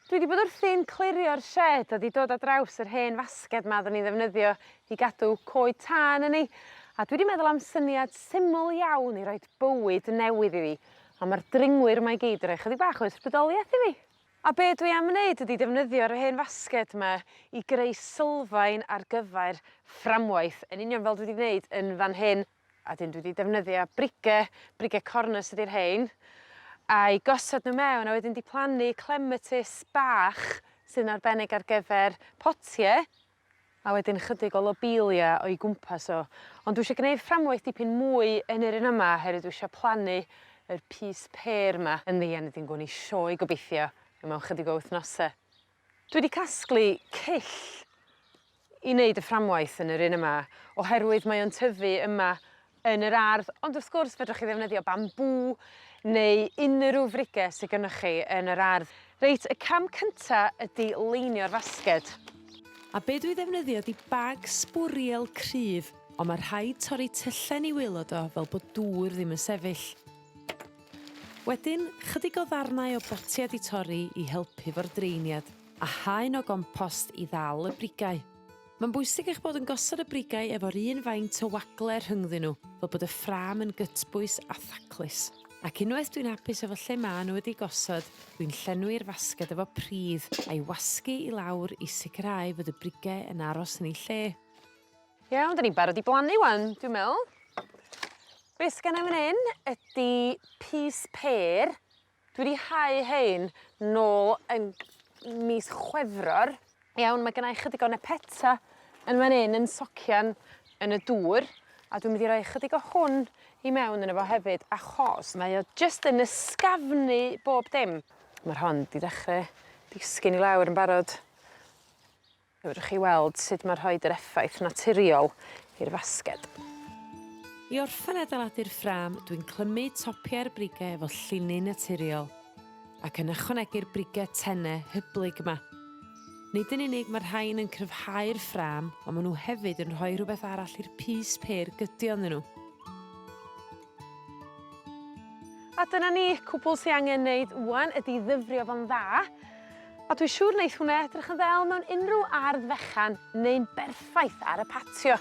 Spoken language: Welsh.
Dwi 'di bod wrthi'n clirio'r sied a 'di dod ar draws yr hen fasged 'ma odden ni'n ddefnyddio i gadw coed tân yn 'i a dwi 'di meddwl am syniad syml iawn i roid bywyd newydd iddi on' ma'r dringwyr 'ma i gyd yn roi chydig bach o ysbrydolieth i fi. A be' dwi am neud ydi defnyddio'r hen fasged 'ma i greu sylfaen ar gyfer fframwaith yn union fel dwi 'di gneud yn fan hyn. A 'dyn dwi 'di defnyddio brige, brige cornus ydi rhein, a'i gosod n'w mewn a wedyn 'di plannu clematis bach sy'n arbennig ar gyfer potie, a wedyn chydig o lobelia o'i gwmpas o. Ond dwi isio gneud fframwaith dipyn mwy yn yr un yma oherwydd dwi isio plannu yr pys pêr 'ma yn ddian wedyn gown ni sioe gobeithio mewn chydig o wythnose. Dwi 'di casglu cyll i neud y fframwaith yn yr un yma oherwydd mae o'n tyfu yma yn yr ardd ond wrth gwrs fedrwch chi ddefnyddio bambŵ neu unrhyw frige sy gynnoch chi yn yr ardd. Reit y cam cynta ydi leinio'r fasged. A be' dwi ddefnyddio 'di bag sbwriel cryf on' ma' rhaid torri tyllau ni waelod o fel bod dŵr ddim yn sefyll. Wedyn, chydig o ddarnau o botiau 'di torri i helpu 'fo'r draeniad, a haen o gompost i ddal y brigau. Mae'n bwysig eich bod yn gosod y brigau efo'r un faint o wagle rhyngddyn nhw, fel bod y ffrâm yn gytbwys a thaclus. Ac unwaith dwi'n hapus efo lle ma' nhw wedi gosod, dwi'n llenwi'r fasged efo pridd, a'i wasgu i lawr i sicrhau fod y brigau yn aros yn eu lle. Iawn 'dan ni'n barod i blannu 'wan dwi'n me'wl. Be' sgenna i fyn 'yn ydi pys pêr dwi 'di hau rhein nôl yn mis Chwefror. Iawn ma' gynnai chydig o nepeta yn fan 'yn yn socian yn y dŵr a dwi'n mynd i roi chydig o hwn i mewn yno fo hefyd achos mae o jyst yn ysgafnu bob dim. Ma'r hon 'di dechre disgyn i lawr yn barod. Fedrwch chi weld sud ma' rhoid yr effaith naturiol i'r fasged. I orffen adeiladu'r ffrâm dwi'n clymu topiau'r brige efo llinyn naturiol ac yn ychwanegu'r brige tenne hyblyg 'ma. Nid yn unig ma'r rhain yn cryfhau'r ffrâm on' ma' n'w hefyd yn rhoi rhwbeth arall i'r pys pêr gydio ynddyn n'w. A dyna ni, cwbwl sy angen neud ŵan ydi ddyfrio fo'n dda, a dwi siŵr neith hwnna edrych yn ddel mewn unryw ardd fechan neu'n berffaith ar y patio.